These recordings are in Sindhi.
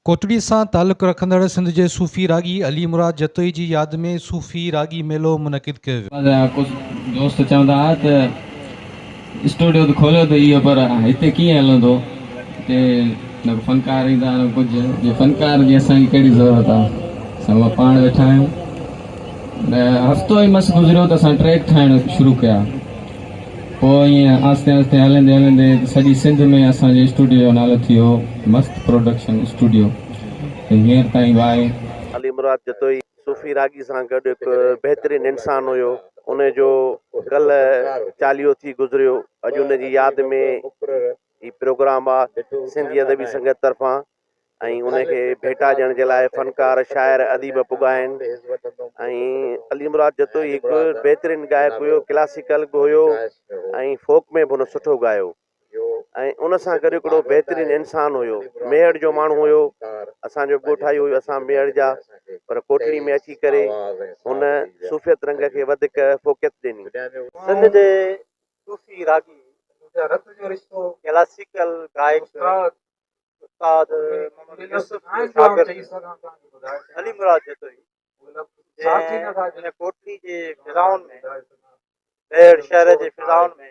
ڪوٽڙي سان تعلق رکندڙ سنڌ جي صوفي راڳي علي مراد جتوئي جي ياد ۾ صوفي راڳي ميلو منعقد ڪيو ويو. مزاح ڪجهه دوست چوندا ها ته. اسٽوڊيو ته کوليو ته اهو پر هتي ڪيئن هلندو هتي نه ڪو فنڪار ايندا نه ڪجهه جي فنڪار جي اسان کي ڪهڙي ضرورت آ اسان اها پاڻ ويٺا آهيون نه هفتو ئي مس گذريو ته اسان ٽريڪ ٺاهڻ شروع ڪيا پوء ائين آهستي آهستي هلندي هلندي سڄي سنڌ ۾ اسان جي اسٽوڊيو جو نالو ٿي ويو مست پروڊڪشن اسٽوڊيو ته هينئر تائين واء علي مراد جتوئي صوفي راڳي سان گڏ هڪ بهترين انسان هيو ان جو ڪلهه چاليهو ٿي گذريو اڄ ان جي ياد ۾ هي پروگرام آهي سنڌي ادبي سنگت طرفان ۽ ان کي ڀيٽا ڏيڻ جي لاء فنڪار شاعر اديب پڳا آهن ۽ علي مراد جتوئي هڪ بهترين ڳائڪ هيو ڪلاسيڪل به هيو ۽ فوڪ ۾ به هن سٺو ڳايو ۽ ان سان گڏ هڪڙو بهترين انسان هيو. ميهڙ جو ماڻهو هيو. اسان جو ڳوٺائي هيو. اسان ميهڙ جا. پر ڪوٽڙي ۾ اچي ڪري هن صوفيت رنگ کي وڌيڪ فوقيت ڏني. سنڌ جي صوفي راڳي ڪلاسيڪل گائڪ استاد محمد يوسف جو شاگرد علي مراد جتوئي جنهن هن ڪوٽڙي جي فضائن ۾، ميهڙ شهر جي فضائن ۾،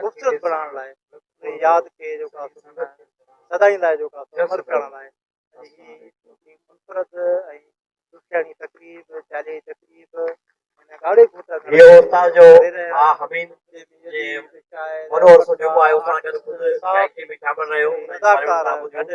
خوبصورت بڻائڻ لاء انهي ياد کي جو ڪا سدائين لاء جو ڪا امر ڪرڻ لاء هي منفرد ۽ ڏکياڻي تقريب چاليهي تقريب هن ڳاڙهي گهوٽ اهو استاد جو ها حميد جي وڏو عرصو جيڪو آهي اسان گڏ خود گائڪي ۾ شامل رهيو اداڪار گڏ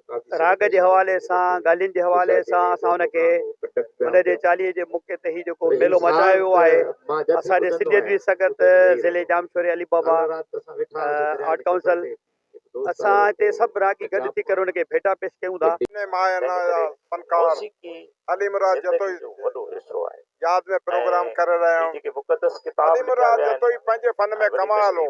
راڳ جي حوالي سان ڳالهين جي حوالي سان اسان ان کي ان جي چاليهي جي موقعي تي هي جيڪو ميلو مچايو ويو آهي اسان جي سنڌ ادبي سنگت ضلعي ڄامشوري علي بابا آرٽ ڪائونسل اسان هتي سڀ راڳي گڏ ٿي ڪري ان کي ڀيٽا پيش ڪيون ٿا انهي ماهيانا جا فنڪار علي مراد جتوئي ياد ۾ پروگرام ڪري رهيا آهيون علي مراد جتوئي پنهنجي فن ۾ ڪمال هو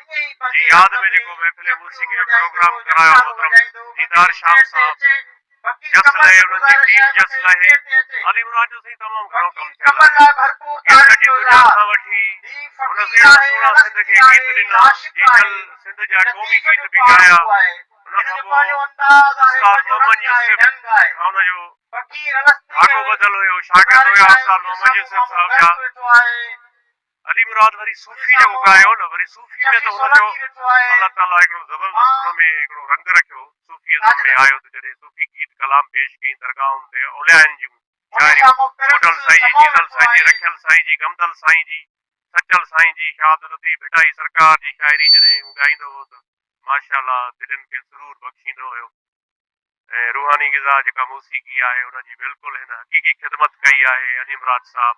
جي ياد ۾ جيڪو محفل موسيقي جو پروگرام ڪرايو محترم ديدار شام صاحب جس لهي انهن جي ٽيم جس لهي علي مراد جو سائين تمام گهڻو ڪم ٿيل آهي گيتن جي دنيا کان وٺي هن سهڻا سهڻا سنڌ کي گيت ڏنا جيتل سنڌ جا قومي گيت به ڳايا ان کان پوء استاد محمد يوسف کان ان جو ڌاڳو ٻڌل هيو شاگرد هيا استاد محمد يوسف صاحب جا علي مراد وري صوفي جيڪو ڳايو هو نه وري صوفي ۾ ته هن جو الله تعاليٰ هڪڙو زبردست ان ۾ هڪڙو رنگ رکيو صوفي ازم ۾ آيو ته جڏهن صوفي گيت ڪلام پيش ڪيائين درگاهن تي اوليائن جون شاعريون ٻڍل سائين جي جيزل سائين جي رکيل سائين جي گمدل سائين جي سچل سائين جي شاهه عبداللطيف ڀٽائي سرڪار جي شاعري جڏهن هو ڳائيندو هو ته ماشاء الله دلين کي سرور بخشيندو هيو ۽ روحاني غذا جيڪا موسيقي آهي ان جي بلڪل هن حقيقي خدمت ڪئي آهي علي مراد صاحب